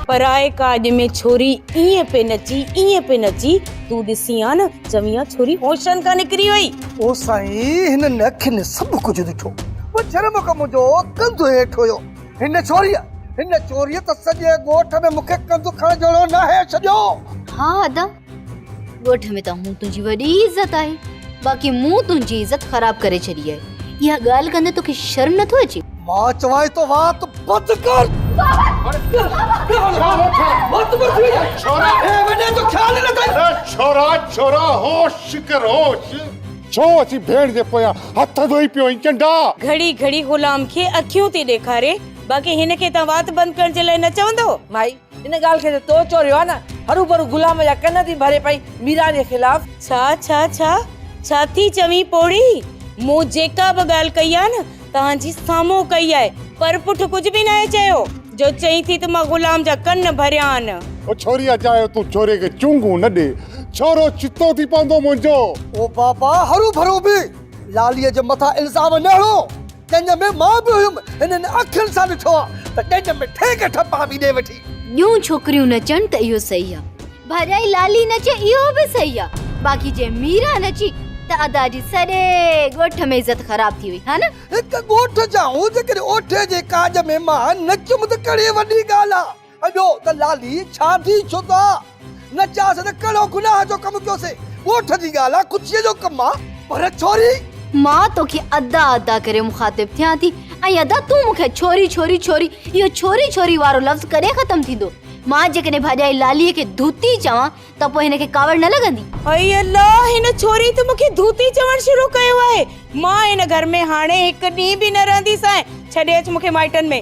پرائي ڪاڄ ۾ ڇوري ائين پئي نچي ائين پئي نچي تون ڏسين ها نه چوين ها ڇوري هوشن کان نڪري وئي. او سائين هنن اکين سڀ ڪجهه ڏٺو پر جرم ڪم جو ڪنڌ هيٺ هيو هن ڇوريء هن چوريء ته سڄي ڳوٺ ۾ مونکي ڪنڌ کڻ جهڙو ناهي ڇڏيو. ها ادا ڳوٺ ۾ ته هون تنهنجي وڏي عزت آهي باقي مون تنهنجي عزت خراب ڪري ڇڏي آهي اها ڳالهه ڪندي توکي شرم نه ٿو اچي مان چوائين ٿو وات بند ڪر ڇو اسين ڀيڻ جي پويان هٿ ڌوئي پيو آهين چنڊا گهڙي گهڙي غلام کي اکيون ٿي ڏيکاري باقي هن کي تان وات بند ڪرڻ جي لاء نه چوندو مائي ان ڳالهه کي ته تو چوريو آهي نه. هروڀرو غلام جا ڪن ٿي ڀري پئي ميران جي خلاف. ڇا ڇا ڇا ڇا ٿي چوين پوڙهي. مون جيڪا به ڳالهه ڪئي آهي نه توهان جي سامهون ڪئي آهي. پر پٺ ڪجهه به ناهي چيو. جو چئين ٿي ته مان غلام جا ڪن ڀريا آهن. او ڇوريا چاهيو تون ڇوري کي چونگون نه ڏي. ڇورو چتو ٿي پوندو منهنجو. او بابا هروڀرو به لاليء جي مٿان الزام نه هڻو. جنهن ۾ مان به هيم. هنن اکين سان ڏٺو آ ته ڏيڄ ۾ ٺيڪ ٺپ آ وي ڏي وٺي. ٻيون ڇوڪريون نچن ته اهو صحيح آ. ڀاڄائي لالي نچي اهو به صحيح آ. باقي جي ميرا نچي ته ادا جي سڄي ڳوٺ ۾ عزت خراب ٿي وئي ها نه. هڪ ڳوٺ جا هون جيڪڏهن اوٺي جي ڪاڄ ۾ مان نچيم ته ڪهڙي وڏي ڳالهه آ. اڏو ته لالي ڇا ٿي ڇو ته نه چيا سين ته ڪهڙو گناهه جو ڪم ڪيو سين ڳوٺ جي ڳالهه آ ڪچيء جو ڪم آ پر ڇوري. مان توکي ادا ادا ڪري مخاطب ٿيان ٿي ۽ ادا تون مون کي ڇوري ڇوري ڇوري اهو ڇوري ڇوري وارو لفظ ڪڏهن ختم ٿيندو مان جيڪڏهن ڀاڄائي لالي کي ڌوتي چوان ته پوء هن کي ڪاوڙ نه لڳندي. اي الله هن ڇوري ته مون کي ڌوتي چوڻ شروع ڪيو آهي مان هن گهر ۾ هاڻي هڪ ڏينهن به نه رهنديسانء ڇڏي اچ مون کي مائٽن ۾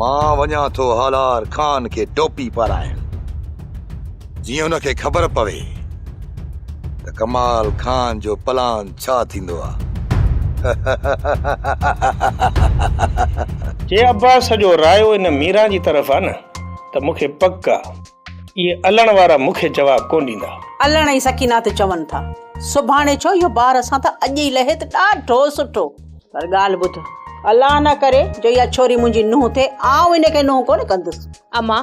مان وڃان ٿو هالار خان کي ٽوپي پارائڻ، جيئن هن کي خبر پوي ته ڪمال خان جو پلان ڇا ٿيندو آ. جي عباس جو رايو ان ميران جي طرف آ نه ته مون کي پڪ آ. اهي الڻ وارا مون کي جواب ڪونه ڏيندا. الڻ ۽ سڪينه ته چون ٿا سڀاڻي ڇو اهو بار اسان تان اڄ ئي لهي ته ڏاڍو سٺو. پر ڳالهه ٻڌ. الله نه ڪري جو اها ڇوري منهنجي نونهن ٿئي آئون ان کي نونهن ڪونه ڪندس. اما،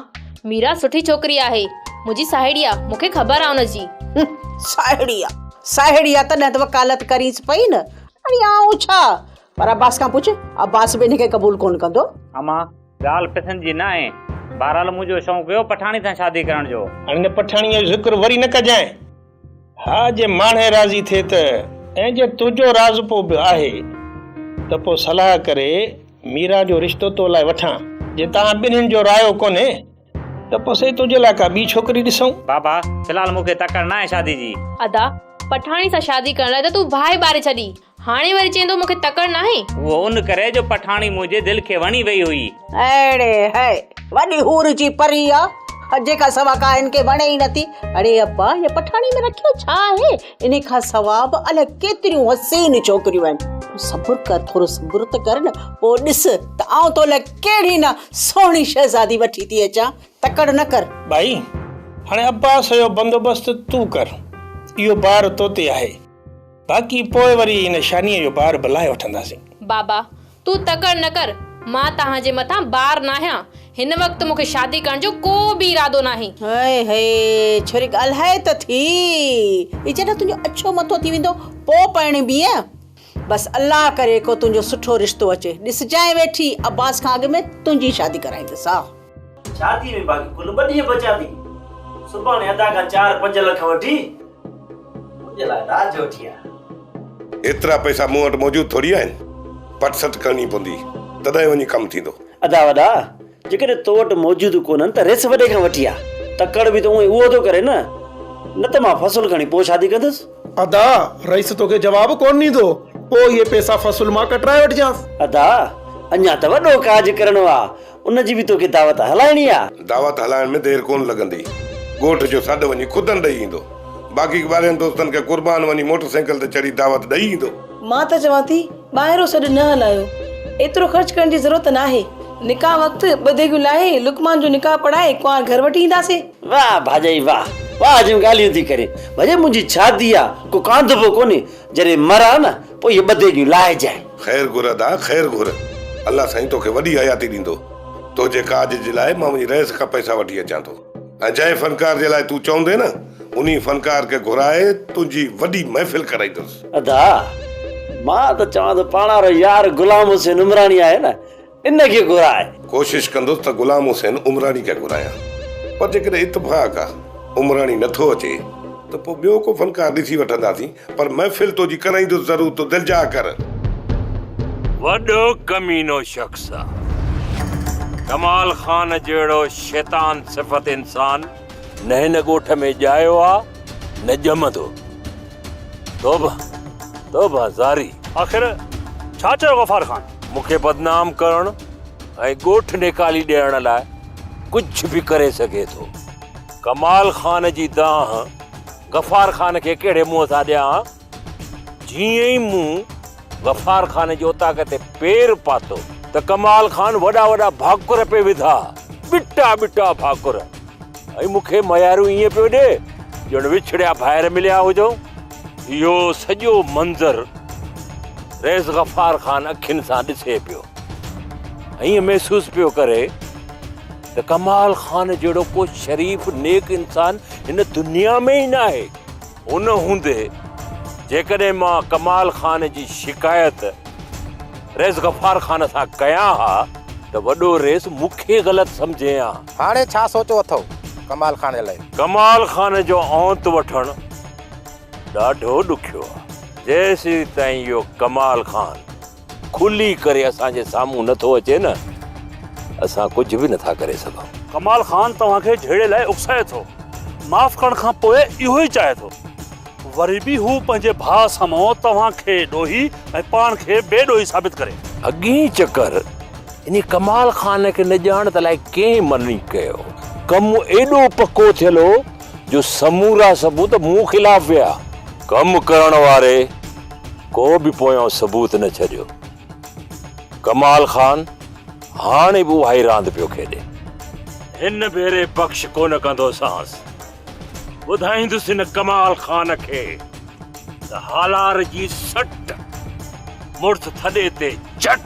ميرا سٺي ڇوڪري آهي. منهنجي ساهيڙي آ. مون کي خبر آ ان جي. هنم، ساهيڙي آ، ساهيڙي آ تڏهن ته وڪالت ڪرينس پئي نه. اڙي آئون ڇا؟ پر عباس کان پڇ، عباس به ان کي قبول ڪونه ڪندو. اما، ڳالهه پسند جي نه آهي. بهرحال منهنجو شوق هيو پٺاڻي سان شادي ڪرڻ جو. هاڻي ان پٺاڻيء جو ذڪر وري نه ڪجانء. ها جي ماڻهي راضي ٿئي ته ۽ جي تنهنجو راضپو به آهي ته پوء صلاح ڪري ميرا جو رشتو تو لاء وٺان. جي توهان ٻنهين جو رايو ڪونهي ته پوء سهي تنهنجي لاء ڪا ٻي ڇوڪري ڏسون. بابا، في الحال مون کي تڪڙ نه آهي شادي جي. ادا، پٺاڻي سان شادي ڪرڻ لاء ته تون باهه ئي ٻاري ڇڏي. هاڻي وري چئين ٿو مون کي تڪڙ ناهي. اهو ان ڪري جو پٺاڻي منهنجي دل کي وڻي وئي هئي. اڙي هيء وڏي حور جي پري آ جيڪا سوا ڪا هن کي وڻي ئي نٿي. اڙي ابا هيء پٺاڻي ۾ رکيو ڇا آهي؟ انهي کان سوا به الاء ڪيتريون حسين ڇوڪريون آهن. تون صبر ڪر ٿورو صبر ته ڪر نه پوء ڏس ته آئون تو لاء ڪهڙي نه سهڻي شهزادي وٺي ٿي اچان. تڪڙ نه ڪر. ڀائي هاڻي عباس جو بندوبست تون ڪر اهو بار توتي آهي. باقي پوء وري ان شانيء جو بار به لاهي وٺنداسين. بابا، تون تڪڙ نه ڪر، مان توهان جي مٿان بار ناهيان، هن وقت مون کي شادي ڪرڻ جو ڪو به ارادو ناهي. هائي هائي، ڇوري ڳالهاء ته ٿي، هي جڏهن تنهنجو اڇو مٿو ٿي ويندو، پوء پرڻيبينء. بس الله ڪري ڪو تنهنجو سٺو رشتو اچي، ڏسجانء ويٺي، عباس کان اڳ ۾ تنهنجي شادي ڪرائيندس، ها! شادي ۾ باقي ڪل ٻه ڏينهن بچيا ٿي. سڀاڻي ادا کان چار پنج لک وٺي منهنجي لاء رات جو وٺي آ. ايترا پئسا مون وٽ موجود ٿوري آهن. پٽ سٽ ڪرڻي پوندي تڏهن وڃي ڪم ٿيندو. ادا وڏا جيڪڏهن تو وٽ موجود ڪونهن ته ريس وڏي کان وٺي آ. تڪڙ به ته اونهي اهو ٿو ڪري نه. نه ته مان فصل کڻي پوء شادي ڪندس. ادا رئيس توکي جواب ڪونه ڏيندو. پوء اهي پئسا فصل مان ڪٽرائي وٺجانس. ادا اڃا ته وڏو ڪاڄ ڪرڻو آ. ان جي به توکي دعوت هلائڻي آ. دعوت هلائڻ ۾ دير ڪونه لڳندي. ڳوٺ جو سڏ وڃي خودن ڏئي ايندو. باقي ٻاهرين دوستن کي قربان وڃي موٽر سائيڪل تي چڙهي دعوت ڏئي ايندو. مان ته چوان ٿي ٻاهرو سڏ نه هلايو. ايترو خرچ ڪرڻ جي ضرورت ناهي. نڪاح وقت ٻه ديڳيون لاهي لقمان جو نڪاح پڙهائي ڪنوار گهر وٺي اينداسين. واهه ڀاڄائي واهه. واهه جون ڳالهيون ٿي ڪرين. ڀڄي منهنجي شادي آ. ڪو ڪانڌبو ڪونهي. جڏهن مر آ نه پوء اهي ٻڌي جون لاهجانء. خير گهر ادا خير گهر. الله سائين توکي وڏي حياتي ڏيندو. تنهنجي ڪاڄ جي لاء مان وڃي رئيس کان پئسا وٺي اچان ٿو ۽ جنهن فنڪار جي لاء تون چوندين نه انهي فنڪار کي گهرائي تنهنجي وڏي محفل ڪرائيندس. ادا مان ته چوان ٿو پاڻان رو يار غلام حسين عمراڻي آهي نه ان کي گهراء. ڪوشش ڪندس ته غلام حسين عمراڻي کي گهرايان پر جيڪڏهن اتفاق عمراڻي نه ٿو اچي ته پوء ٻيو ڪو فنڪار ڏسي وٺنداسين پر محفل تنهنجي ڪرائيندس ضرور تون دلجاء ڪر. وڏو ڪمينو شخص آ. ڪمال خان جهڙو شيطان صفت انسان نه هن ڳوٺ ۾ ڄايو آ نه ڄمندو. توبه توبه زاري. آخر ڇا چيو غفار خان؟ مون کي بدنام ڪرڻ ۽ ڳوٺ نيڪالي ڏيڻ لاء ڪجهه به ڪري سگهي ٿو. ڪمال خان جي دانهن غفار خان کي ڪهڙي منهن سان ڏيان؟ جيئن ئي مون غفار خان جي اوطاق تي پير پاتو ته ڪمال خان وڏا وڏا ڀاڪر پئي وڌا، ٻٽا ٻٽا ڀاڪر ۽ مون کي مياريون ائين پيو ڏي ڄڻ وڇڙيا ڀائر مليا هجئون. اهو سڄو منظر رئيس غفار خان اکين سان ڏسي پيو ائين محسوس پيو ڪري ته ڪمال خان جهڙو ڪو شريف نيڪ انسان هن دنيا ۾ ئي ناهي ان هوندي جيڪڏهن مان ڪمال خان جي شڪايت رئيس غفار خان سان ڪيان ها ته وڏو رئيس مون کي غلط سمجهين ها. هاڻي ڇا سوچو اٿئو ڪمال خان جي لاء؟ ڪمال خان جو اونت وٺڻ ڏاڍو ڏکيو آ. جيسين تائين اهو ڪمال خان کلي ڪري اسان جي سامهون نه ٿو اچي نه اسان ڪجهه به نه ٿا ڪري سگهون. ڪمال خان توهان کي جهيڙي لاء اڪسائي ٿو. معاف ڪرڻ کان پوء اهو ئي چاهي ٿو. وري به هو پنهنجي ڀاء سامهون توهان کي ڏوهي ۽ پاڻ کي بي ڏوهي ثابت ڪري. اڳئين چڪر انهي ڪمال خان کي نه ڄاڻ ته الائي ڪنهن مني ڪيو. ڪم ايڏو پڪو ٿيل هو. جو سمورا ثبوت مون خلاف ويا. ڪم ڪرڻ واري ڪو به پويان ثبوت نه ڇڏيو. ڪمال خان هاڻي به اهائي راند پيو کيڏي. هن ڀيري بخش ڪونه ڪندوسانس. ٻڌائيندس هن ڪمال خان کي ته هالار جي سٽ، مڙس ٿڏي تي چٽ.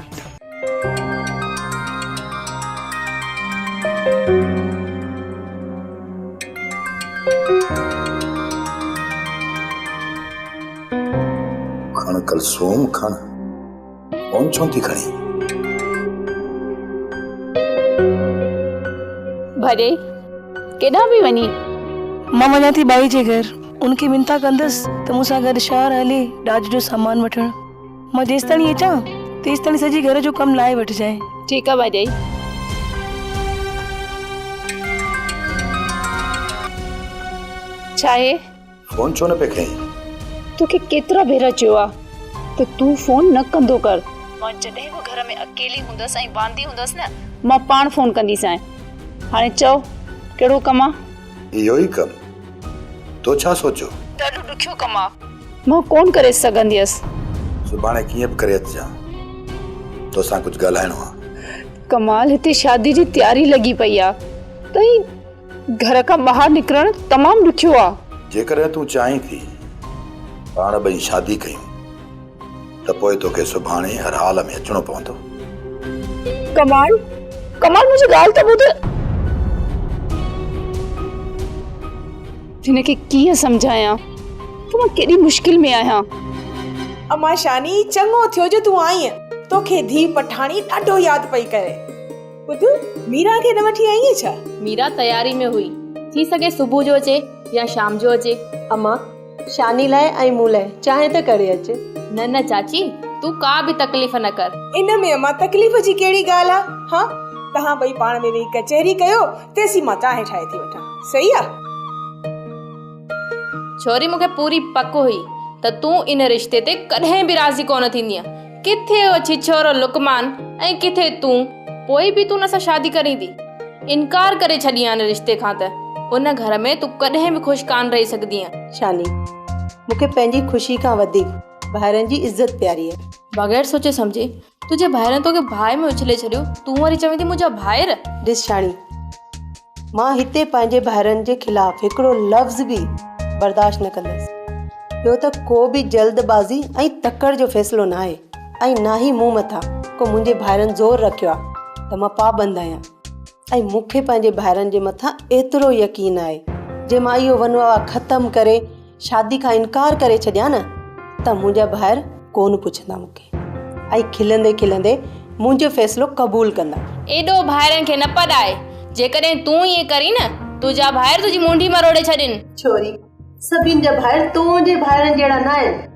کڻ ڪلثوم کڻ ڪون ڇو ٿي کڻي ڀري ڪيڏانهن پي وڃي مان وڃان ٿي ٻائي جي گهر ان کي منٿا ڪندس ته مون سان گڏ شهر هلي ڏاج جو سامان وٺڻ مان جيستائين اچان تيستائين سڄي گهر جو ڪم لاهي وٺجانء. ٺيڪ آ ڀاڄائي. ڇاهي؟ فون ڇو نه پئي کنئين؟ توکي ڪيترا ڀيرا چيو آ ته تون فون نه ڪندو ڪر. مان جڏهن به گهر ۾ اڪيلي هوندس ۽ واندي هوندس نه مان پاڻ فون ڪنديسانء. هاڻي چئو ڪهڙو ڪم آ؟ اهو ئي ڪم. تو ڇا سوچيو؟ ڏاڍو ڏکيو ڪم آ. مان ڪونه ڪري سگهنديس. سڀاڻي ڪيئن به ڪري اچجان. توسان ڪجهه ڳالهائڻو آ. ڪمال هتي شادي جي تياري لڳي پئي آ ۽ گهر کان ٻاهر نڪرڻ تمام ڏکيو آ. جيڪڏهن تون چاهين ٿي پاڻ ٻئي شادي ڪيون. ته پوء توکي سڀاڻي هر حال ۾ اچڻو پوندو. ڪمال، ڪمال منهنجي ڳالهه ته ٻڌ. هن کي ڪيئن سمجهايان ته مان ڪيڏي مشڪل ۾ آهيان. امان شاني، چڱو ٿيو جو تون آئينء. توکي ڌيء پٺاڻي ڏاڍو ياد پئي ڪري. ٻڌ، ميرا کي نه وٺي آئينء ڇا؟ ميرا تياري ۾ هئي. ٿي سگهي صبح جو اچي يا شام جو اچي. امان، شاني لاء ۽ مون لاء چانهه ته ڪري اچ. نه نه چاچي تون ڪا به تڪليف نه ڪر. ان ۾ امان تڪليف جي ڪهڙي ڳالهه آ. ها توهان ٻئي پاڻ ۾ ويهي ڪچهري ڪيو تيسين مان چانهه ٺاهي ٿي وٺان. صحيح آ. ڇوري مون کي پوري پڪ هئي ته تون ان رشتي تي ڪڏهن به راضي ڪونه ٿيندينء. ڪٿي هو ڇڇورو لقمان ۽ ڪٿي تون، پوء به تون ان سان شادي ڪرين ٿي؟ انڪار ڪري ڇڏيانء رشتي کان ته ان گهر ۾ تون ڪڏهن به خوش ڪانه رهي سگهندينء. شاني، مون کي پنهنجي خوشيء کان وڌيڪ ڀائرن جي عزت پياري آهي. بغير سوچي سمجهي، تنهنجي ڀائرن توکي باهه ۾ اڇلي ڇڏيو، تون وري چوين ٿي منهنجا ڀائر! ڏس شاني، مان هتي پنهنجي ڀائرن جي خلاف هڪڙو لفظ به برداشت نه ڪندس. ٻيو ته ڪو به جلد بازي ۽ تڪڙ جو فيصلو ناهي ۽ نه ئي مون مٿان ڪو منهنجي ڀائرن زور رکيو آهي ته مان پابند آهيان ۽ مون کي پنهنجي ڀائرن جي مٿان ايترو يقين آهي جي مان اهو ونواه ختم ڪري شادي کان انڪار ڪري ڇڏيان نه ته منهنجا ڀائر ڪونه پڇندا مون کي ۽ کلندي کلندي منهنجو فيصلو قبول ڪندا. ايڏو ڀائرن کي نه پڏائي. جيڪڏهن تون ائين ڪرين نه تنهنجا ڀائر تنهنجي مونڍي مروڙي ڇڏين. ڇوري، سڀني جا ڀائر تنهنجي ڀائرن جهڙا نه آهن.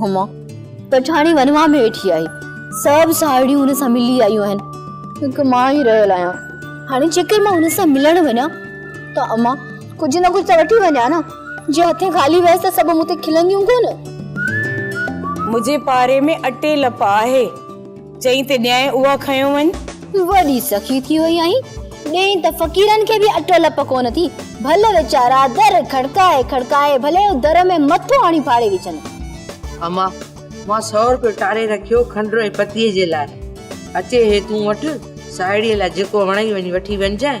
هما پٺاڻي ونواهه ۾ ويٺي آهي. سڀ ساهيڙيون هن سان ملي آيون آهن. هڪ مان ئي رهيل آهيان. هاڻي جيڪر مان هن سان ملڻ وڃان ته اما ڪجهه نه ڪجهه ته وٺي وڃان نه. جي هٿين خالي ويس ته سڀ مون تي کلنديون ڪونه. منهنجي پاري ۾ اٽي لپ آهي. چئين ته ڏيانء اها کنيو وڃ. وڏي سخي ٿي وئي آهين. ڏيئين ته فقيرن کي به اٽ الپ ڪونه ٿي. ڀل ويچارا در کڙڪائي کڙڪائي ڀلي او در ۾ مٿو آڻي ڦاڙي وجهن. اما! مان سؤ روپيو ٽاري رکيو کنڊر ۽ پتيء جي لاء. اچي هي تون وٺ ساهيڙيء لاء جيڪو وڻئي وڃي وٺي وڃجانء.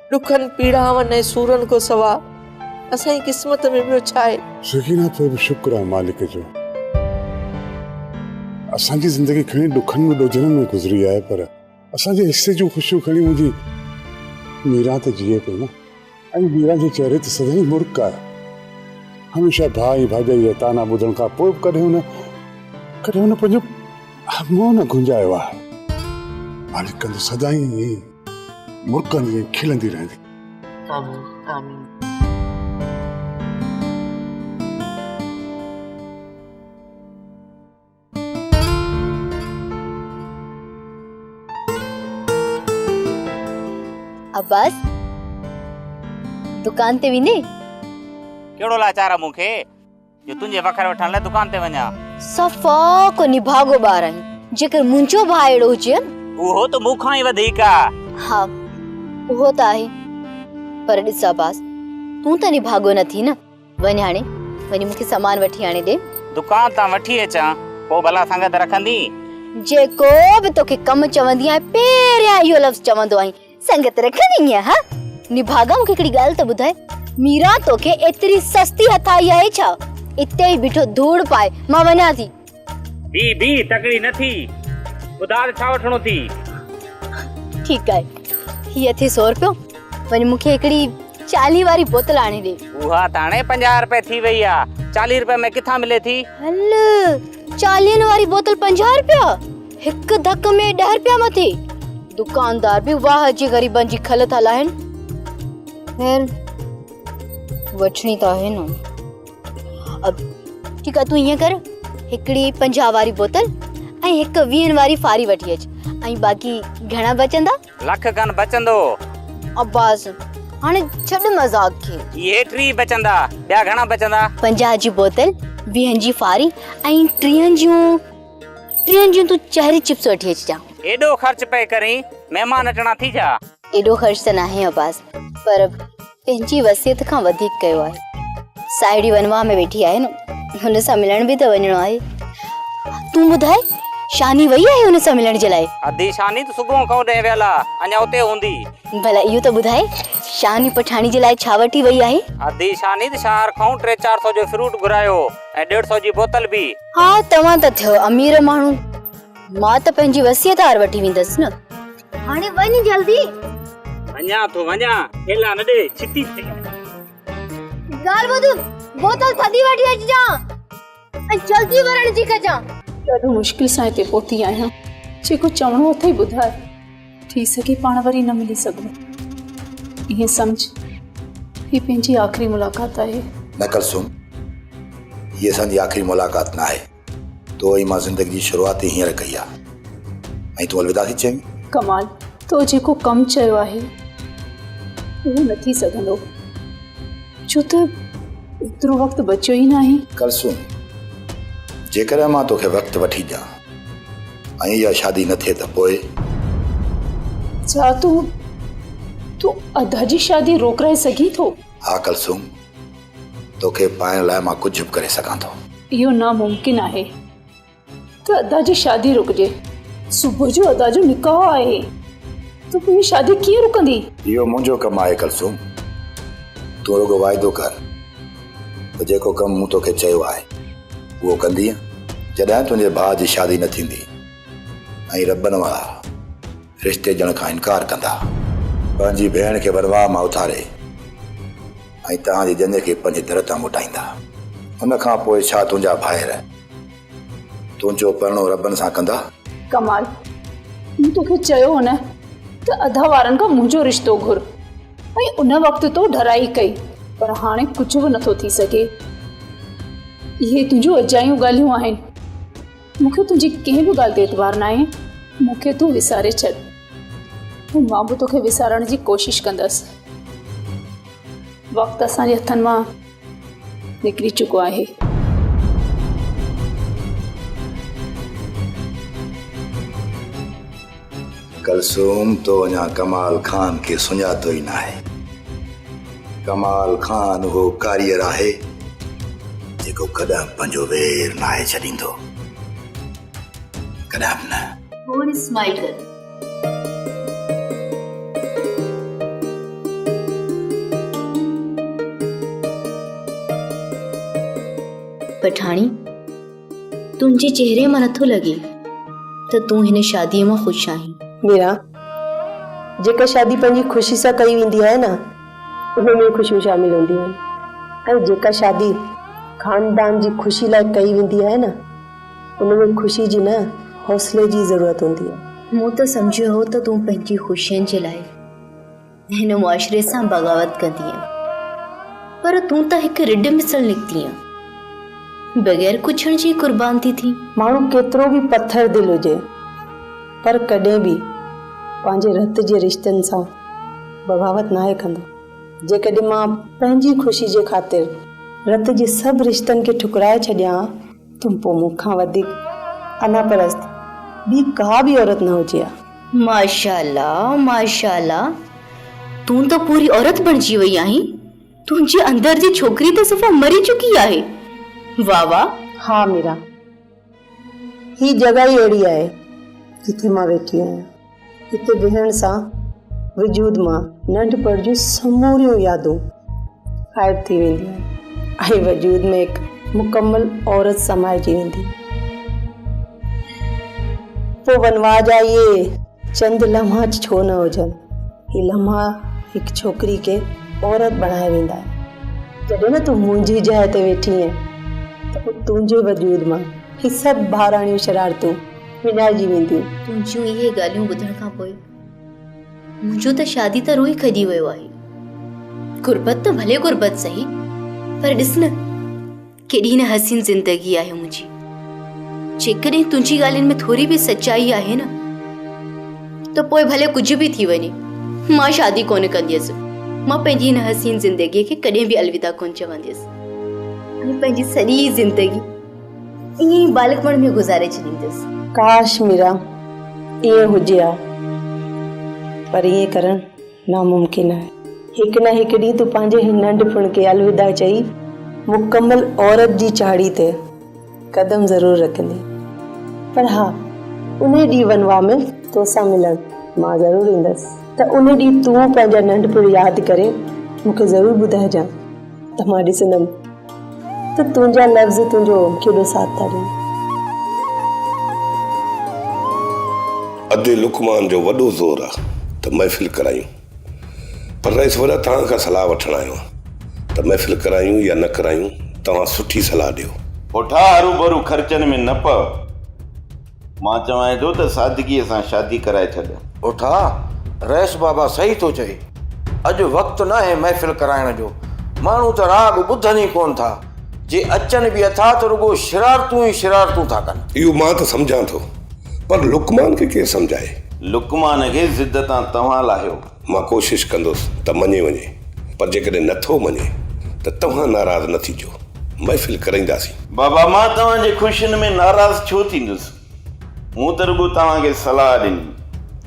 ڏکن پيڙائن ۽ سورن کان سوا اسان جي قسمت ۾ ٻيو ڇا آهي؟ سڪينه تو به شڪر آهي مالڪ جو اسان جي زندگي کڻي ڏکن ۽ ڏوجهرن ۾ گذري آهي پر اسان جي حصي جون خوشيون کڻي منهنجي ميران ته جيئي پئي نه ۽ ميران جي چهري ته سدائين مرڪ آهي هميشه ڀاء ۽ ڀاڄائي جا طعنا ٻڌڻ کان پوء به ڪڏهن هن ڪڏهن هن پنهنجو منهن نه گهنجايو آهي مالڪ ڪندو سدائين ائين ئي مرڪن جيئن کلندي رهندي. آمين آمين. عباس دڪان تي ويندين. ڪهڙو لاچار آ مون کي. جو تنهنجي وکر وٺڻ لاء دڪان تي وڃان. صفا ڪو نڀاڳو ٻار آهين. جيڪر منهنجو ڀاء اهڙو هجي ها نه. اهو ته مون کان ئي وڌيڪ آ. ها اهو ته آهي. پر ڏس عباس تون ته نڀاڳو نه ٿي نه. وڃ هاڻي وڃي مون کي سامان وٺي آڻي ڏي. دڪان تان وٺي اچان پوء ڀلا سنگت رکندين. جيڪو به توکي ڪم چوندي آهيان پهريان اهو لفظ چوندو آهين. سنگت رکڻي ئي آ ها. نڀاڳا مون کي هڪڙي ڳالهه ته ٻڌاء. ميران توکي ايتري سستي هٿ آئي آهي ڇا؟ اتي ئي بيٺو ڌوڙ پاء مان وڃان ٿي. بيھ بيھ تڪڙي نه ٿي. ٻڌاء ته ڇا وٺڻو ٿي. ٺيڪ آهي هي اٿئي سؤ رپيو وڃ مون کي هڪڙي چاليهه واري بوتل آڻي ڏي. اها ته هاڻي پنجاهه رپيه ٿي وئي آ. چاليهه رپين ۾ ڪٿان ملي ٿي. هل چاليهن واري بوتل پنجاهه رپيا. هڪ ڌڪ ۾ ڏهه رپيا مٿي دڪاندار به واهه جي غريبن جي کل ٿا لاهن خير وٺڻي ته آهي نه ٺيڪ آهي تون ائين ڪر هڪڙي پنجاهه واري بوتل ۽ هڪ ويهن واري فاري وٺي اچ ۽ باقي گهڻا بچندا لک کن بچندو عباس هاڻي ڇڏ مذاق کي اهي ٽي بچندا ٻيا گهڻا بچندا پنجاهه جي بوتل ويهن جي فاري ۽ ٽيهن جون ٽين جون تون چهري چپس وٺي اچ جا. ايڏو خرچ پئي ڪرين مهمان اچڻا ٿي جا. ايڏو خرچ ته ناهي عباس پر پنهنجي وصيت کان وڌيڪ ڪيو آهي. ساهيڙي ونواهه ۾ ويٺي آهي نه هن سان ملڻ به ته وڃڻو آهي. تون ٻڌاء شاني وئي آهي هن سان ملڻ جي لاء. ادي شاني ته صبح کان هوڏهن ويل آ اڃا اتي هوندي. ڀلا اهو ته ٻڌاء شاني پٺاڻي جي لاء ڇا وٺي وئي آهي. ادي شاني ته شهر کان ٽي چار سو جو فروٽ گهرايو ۽ ڏيڍ سو جي بوتل به. ها توهان ته ٿيو امير ماڻهو مان ته پنهنجي وصيت هار وٺي ويندس نه هاڻي وڃ جلدي وڃا ٿو وڃا ٿيلا نه ڏي ڇتي ٿي ڳالهه ٻڌ بوتل ٿڌي وٺي اچجان ۽ جلدي ورڻ جي ڪجان ڏاڍو مشڪل سان هتي پهتي آهيان جيڪو چوڻو اٿئي ٻڌاء ٿي سگهي پاڻ وري نه ملي سگهون. ائين سمجهه هي پنهنجي آخري ملاقات آهي. نه ڪلثوم، هي اسان جي آخري ملاقات ناهي. تو ۽ مان زندگي جي شروعات ئي هينئر ڪئي آهي ۽ تون الوداع ٿي چوين؟ ڪمال، تو جيڪو ڪم چيو آهي، اهو نه ٿي سگهندو، ڇو ته ايترو وقت بچيو ئي ناهي. ڪلثوم، جيڪڏهن مان توکي وقت وٺي ڏيان. ۽ اها شادي نه ٿئي ته پوء؟ ڇا تون تون ادا جي شادي روڪرائي سگهين ٿو؟ ها ڪلثوم، توکي پائڻ لاء مان ڪجهه به ڪري سگهان ٿو. اهو ناممڪن آهي ته ادا جي شادي رڪجي. صبح جو ادا جو نڪاح آهي ته پوء شادي ڪيئن رڪندي؟ اهو منهنجو ڪم آهي ڪلثوم، تون رڳو واعدو ڪر. ته جيڪو ڪم مون توکي چيو آهي اهو ڪندينء جڏهن تنهنجي ڀاء جي شادي نه ٿيندي ۽ ربن وارا رشتي ڏيڻ کان انڪار ڪندا. پنهنجي ڀيڻ کي ورواهه مان اٿاري ۽ توهان جي ڄڃ کي پنهنجي در تان موٽائيندا. ان کان پوء ڇا تنهنجا ڀائر. تنهنجو پرڻو ربن سان ڪندا. ڪمال، مون توکي چيو هو نه ته ادا وارن کان منهنجو رشتو گهر ۽ ان وقت تو ڍرائي ڪئي پر هاڻي ڪجهه به نٿو ٿي سگهي. اهي تنهنجون اجايون ڳالهيون آهن. مون کي تنهنجي ڪنهن به ڳالهه تي اعتبار ناهي. مون کي تون وساري ڇڏ ۽ مان به توکي وسارڻ جي ڪوشش ڪندس. وقت اسان جي هٿن مان نڪري چڪو آهي. ڪلثوم تو اڃا ڪمال خان کي سڃاتو ئي ناهي. ڪمال خان اهو ڪاريئر آهي جيڪو ڪڏهن پنهنجو وير ناهي ڇڏيندو. ڪڏهن به نه. هو رسمائي ڪري. پٺاڻي تنهنجي چهري مان نٿو لڳي ته تون هن شادي مان خوش آهين ميرا جيڪا شادي پنهنجي خوشي سان ڪئي ويندي آهي نه ان ۾ خوشيون شامل هونديون آهن ۽ جيڪا شادي خاندان جي خوشي لاء ڪئي ويندي آهي نه ان ۾ خوشي جي نه، حوصلي جي ضرورت هوندي آهي. مون ته سمجهيو هو ته تون پنهنجي خوشين جي لاء هن معاشري سان بغاوت ڪندينء، پر تون ته هڪ رڍ مثل نڪتينء. بغير ڪڇڻ جي قربان ٿي ٿين. ماڻهو ڪيترو به پٿر دل هجي، پر ڪڏهن به پنهنجي رت جي رشتن سان بغاوت ناهي ڪندو. جيڪڏهن مان پنهنجي خوشي جي خاطر رت جي سڀ رشتن کي ٺڪرائي ڇڏيان ها، تون پوء مون کان وڌيڪ انا پرست ٻي ڪا به عورت نه هجي ها. ماشاءالله ماشاءالله تون ته پوري عورت بڻجي وئي آهين تنهنجي اندر جي ڇوڪري ته صفا مري چڪي آهي واھ واھ. ها ميرا هي جڳهه ئي اهڙي آهي جتي مان ويٺي آهيان. اتي بيهڻ سان وجود مان ننڍپڻ جون سموريون يادون غائب ٿي وينديون ۽ وجود ۾ هڪ مڪمل عورت سمائجي ويندي. پوء ونواهه جا اهي چند لمحا ڇو نه هجن، هي لمحا هڪ ڇوڪري کي عورت بڻائي ويندا آهن. جڏهن نه تون منهنجي جاء تي ويٺي آهين ته تنهنجي وجود مان هي سڀ ٻاراڻيون شرارتون وڃائجي وينديون. تنهنجون اهي ڳالهيون ٻڌڻ کان پوء منهنجو ته شادي تان روح ئي کڄي ويو آهي. غربت ته ڀلي غربت سهي پر ڏس نه ڪيڏي نه حسين زندگي آهي منهنجي. جيڪڏهن تنهنجي ڳالهين ۾ ٿوري به سچائي آهي نه ته پوء ڀلي ڪجهه به ٿي وڃي مان شادي ڪونه ڪنديس. مان پنهنجي هن حسين زندگيء کي ڪڏهن به الوداع ڪونه چونديس ۽ پنهنجي سڄي زندگي ائين ئي ٻالڪپڻ ۾ گذاري ڇڏيندس. ڪاش ميرا ائين هجي ها پر ائين ڪرڻ ناممڪن آهي. هڪ نه هڪ ڏينهن تون پنهنجي هن ننڍپڻ کي الوداع چئي مڪمل عورت جي چاڙهي تي قدم ضرور رکندين پر ها انهي ڏينهن ونواهه ۾ توسان ملڻ مان ضرور ايندس ته انهي ڏينهن تون پنهنجا ننڍپڻ ياد ڪري مونکي ضرور ٻڌائجان. ته مان ڏسندم ته تنهنجا لفظ تنهنجو ڪيڏو ساٿ ٿا ڏين. ادي لقمان جو وڏو زور آ ته محفل ڪرايون پر رئيس وڏا توهان کان صلاح وٺڻ آيو آهيان ته محفل ڪرايون يا نه ڪرايون توهان سٺي صلاح ڏيو. پوٺا هروڀرو خرچن ۾ نه پئو. مان چوانء ٿو ته سادگيء سان شادي ڪرائي ڇڏ. اٿا، رئيس بابا صحيح ٿو چئي. اڄ وقت ناهي محفل ڪرائڻ جو. ماڻهو ته راڳ ٻڌن ئي ڪونه ٿا. جي اچن به اٿا ته رڳو شرارتون ئي شرارتون ٿا ڪن. اهو مان ته سمجهان ٿو. پر لقمان کي ڪير سمجهائي؟ لقمان کي ضد تان توهان لاهيو. مان ڪوشش ڪندس ته مڃي وڃي، پر جيڪڏهن نه ٿو مڃي ته توهان ناراض نه ٿيجو، محفل ڪرائينداسين. بابا، مان توهان جي خوشين ۾ ناراض ڇو ٿيندس؟ مون ته رڳو توهان کي صلاح ڏني،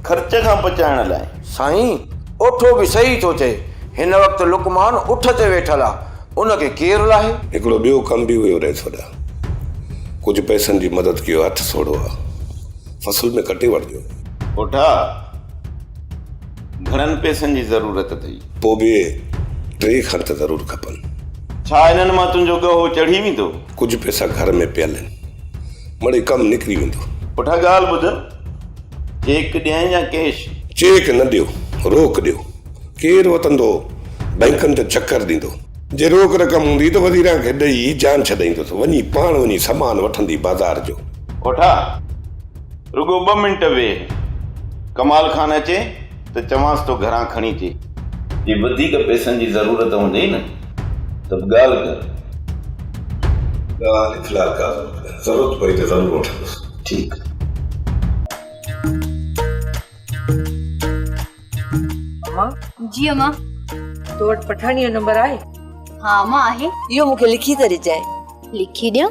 خرچ کان بچائڻ لاء. سائين، اوٺو به صحيح ٿو ٿئي، هن وقت لقمان اٺ تي ويٺل آ، ان کي ڪير لاهي؟ هڪڙو ٻيو ڪم به هيو رئيس وڏا، ڪجهه پئسن جي مدد ڪيو، هٿ سوڙهو آ، فصل ۾ ڪٽي وٺجو. اوٺا، گهڻن پئسن جي ضرورت اٿئي؟ پوء به ٽي کڻ ته ضرور کپن. ڇا انهن مان تنهنجو ڳهو چڙهي ويندو؟ ڪجهه پئسا گهر ۾ پيل آهن. مڙئي ڪم نڪري ويندو. پٺا ڳالهه ٻڌ. چيڪ ڏين يا ڪيش؟ چيڪ نه ڏيو. روڪ ڏيو. ڪير وتندو؟ بئنڪن ته چڪر ڏيندو. جي روڪ رقم هوندي ته وزيران کي ڏئي جان ڇڏائيندس. وڃي پاڻ وڃي سامان وٺندي بازار جو. پٺا! رڳو ٻه منٽ ويهه، ڪمال خان اچي ته چوانس ٿو گهران کڻي اچي. جي وڌيڪ پئسن جي ضرورت هوندئي نه ته به ڳالهه ڪر. ڳالهه اخلاق آ زور ڪر، ضرورت پئي ته ضرور وٺندس. ٺيڪ. امان! جي امان! تو وٽ پٺاڻيء جو نمبر آهي؟ ها امان آهي. اهو مون کي لکي ته ڏجانء. لکي ڏيان؟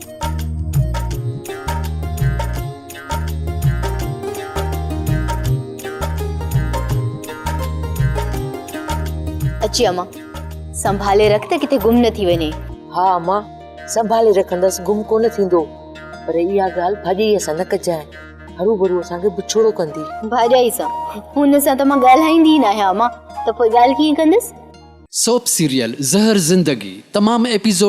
اچي اما سنڀالي رک ته ڪٿي گم نه ٿي وڃي ها اما سنڀالي رکندس گم ڪونه ٿيندو پر اها ڳالهه ڀاڄي سان نه ڪجانء هرو ڀرو اسان کي بڇوڙو ڪندي ڀاڄي سان هن سان ته مان ڳالهائيندي نه آهيان اما ته پوء ڳالهه ڪيئن ڪندس سوپ سيريل زهر زندگي تمام ايپيسوڊ